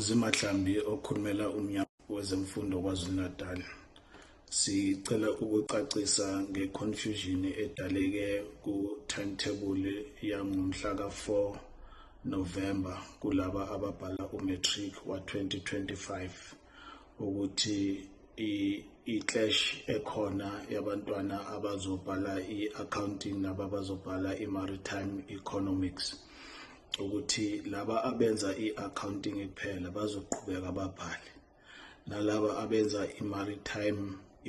Zimathlambi okhulumela umnyango wezemfundo KwaZulu-Natal sicela ukucacisa nge-confusion edaleke ku-timetable yangomhla ka-4 November kulaba ababhala u-matric wa-2025 ukuthi i-clash ekhona yabantwana abazobhala i-accounting nababazobhala i-maritime economics ukuthi laba abenza i-accounting kuphela bazoqhubeka babhale nalaba abenza i-maritime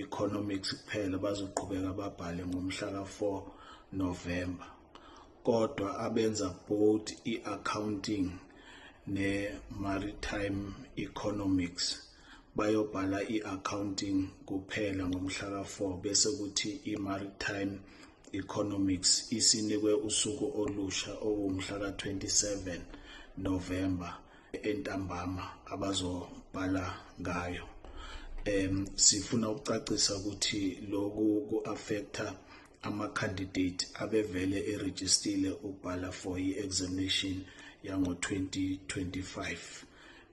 economics kuphela bazoqhubeka babhale ngomhla ka-4 November kodwa abenza both i-accounting ne-maritime economics bayobhala i-accounting kuphela ngomhla ka-4 bese kuthi i-maritime Economics isinikwe usuku olusha okuwumhla ka-27 November entambama abazobhala ngayo um sifuna ukucacisa ukuthi loku ku-affecta ama-candidate abevele erejistile ukubhala for i-examination yango-2025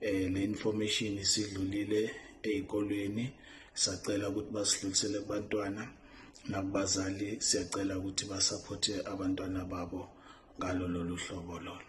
eh le information isidlulile ezikolweni sacela ukuthi basidlulisele kubantwana nakubazali siyacela ukuthi basaphothe abantwana babo ngalo lolu hlobo lolo